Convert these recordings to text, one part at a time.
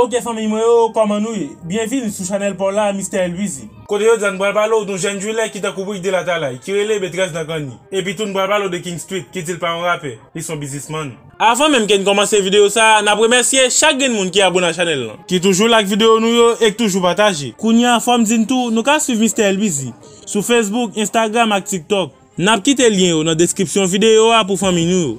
Ok fanmiy mwen yo kòman nou ye? Byen vini sou chanèl paw la Mister Elwizy. Kote jodi a n pral pale w doun jèn driller ki tankou Brick Dee Latalay, ki rele Betrès nan Granny. Epi tou n pral pale w de King Street, ki di l pa yon rapè, li son biznismann. Avan menm ke n kòmanse videyo sa, n ap remèsye chak grenn moun ki abone a chanèl lan. Ki toujou like videyo nou yo e k toujou pataje. Kounye a fò m di n tou, nou ka swiv Mister Elwizy, sou Facebook, Instagram ak TikTok. N ap kite lyen yo nan deskripsyon videyo a pou fanmiy nou yo.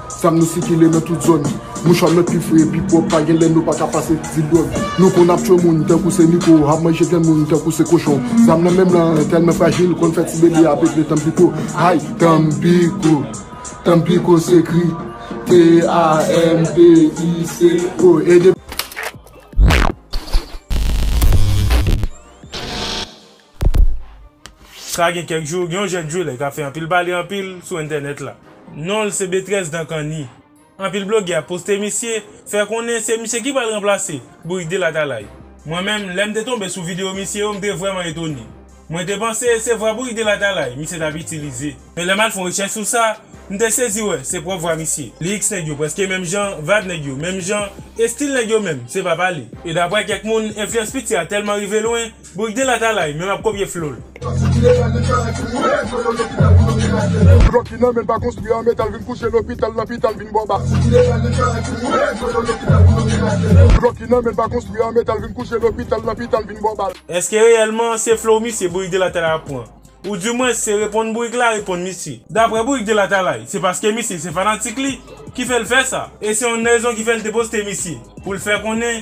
Sam nou sikile nan tout zòn. Mouchwa nou pi fre, pi pwòp, pa gen lè nou pa ka pase ti dwòg. Nou konn ap tchwe moun tankou se miko, ap manje granmoun tankou se kochon. Zam nan menm lan tèlman frajil, konn fè ti bebe a peple tanpiko. Hay! Tanpiko! Tanpiko se kri. T-a-m-p-i-c-o. E depi. Sa gen kèk jou, gen yon jèn jwelè k ap fè anpil pale anpil sou entènèt la. Non l se Betrès Dankani. Anpil blogè ap poste misye, fè konnen se misye ki pral ranplase Bourik Dela Talaï. Mwen menm, lè m te tonbe sou videyo misye yo, m te vrèman etone. Mwen te panse se vwa Bourik Dela Talaï misye t ap itilize. Men lè m al fè yon rechèch sou sa, m te sezi wè se pwòp vwa misye. Lyrics nèg yo prèske menm jan, vayb nèg yo menm jan, estil nèg yo menm, se pa pale. E daprè kèk moun, enflyans piti a tèlman rive lwen, Boul de latalay menm ap kopye flow l. Blòk ki nan men l pa konstwi an metal vin kouche lopital lopital vin bò bal. Blòk ki nan men l pa konstwi an metal vin kouche lopital lopital vin bò bal. Eske reyèlman se flow misye Bourik de latalay ap pran? Ou di mwens se reponn Bourik la reponn misye? Daprè Bourik de latalay se paske misye se fanatik li ki fè l fè sa e se yon rezon ki fè l te poste misye pou l fè konnen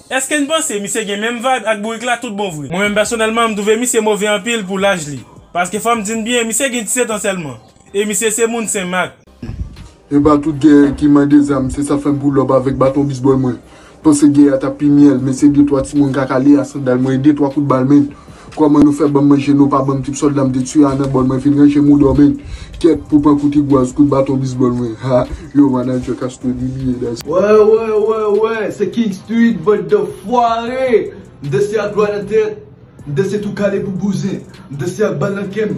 Eske n panse misye gen menm vibe ak bourik la tout bon vre? Mwen menm pèsonèlman m twouve misye move anpil pou laj li. Paske fò m di n byen misye gen 17 an sèlman. E misye se moun Sen Mak. Epa tout gè ki mande zam se sa fèm poul up avèk baton bizboy mwen panse gè a tap pi myèl men se de twa timoun kaka le a sandal mwen e de twa kout bal men Koman nou fè banm manje nou pa banm tip sòlda m te tiye a nan bòl mwen vin ranje m ou dòmi kèt pou pran kou tigwaz kout baton bizbòl mwen ha yo manager castro di bilye dan se Wè wè wè wè se king stuid bann danfware m danse ak lwa nan tèt m danse tou kale pou bouzen m danse ak bal nan kèm.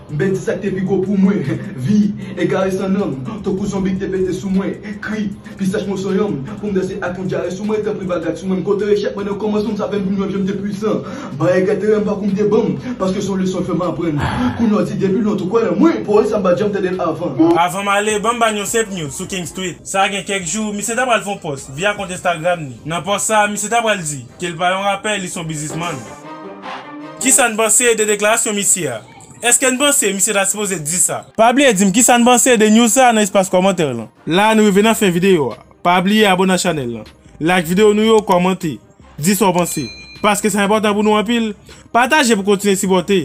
M pèdi sa k te pi gwo pou mwen Vi egare san nanm Tankou zonbi k te pete sou mwen Kri pi sèch moso yanm Pou m danse ak yon dyare sou mwen Tanpri pa gad sou mwen M konte echèk mwen nan kòmansman M sape m vin wè jan m te pwisan Ba egre teren pa kou m te banm Paske son leson fè m aprann Kou nò di depi lontan w kwè nan mwen Pawòl sa m pa t janm tande l avan. Avan m ale, ban m ba n yon senp news sou King Street. Sa gen kèk jou, misye ta pral fè yon pòs via kont Instagram ni. Nan pòs sa a, misye ta pral di. Ke l pa yon rapè, li s on bizismann. Kisa n panse de deklarasyon misye a? Eske n panse misye ta sipoze di sa? Pa bliye di m kisa n panse de news sa nan espas kòmantè lan. La nou rive nan fen videyo a. Pa bliye abone a chanèl lan. Like videyo nou yo, kòmante. Di sa w panse. Paske sa enpòtan pou nou anpil. Pataje pou kontinye sipòte.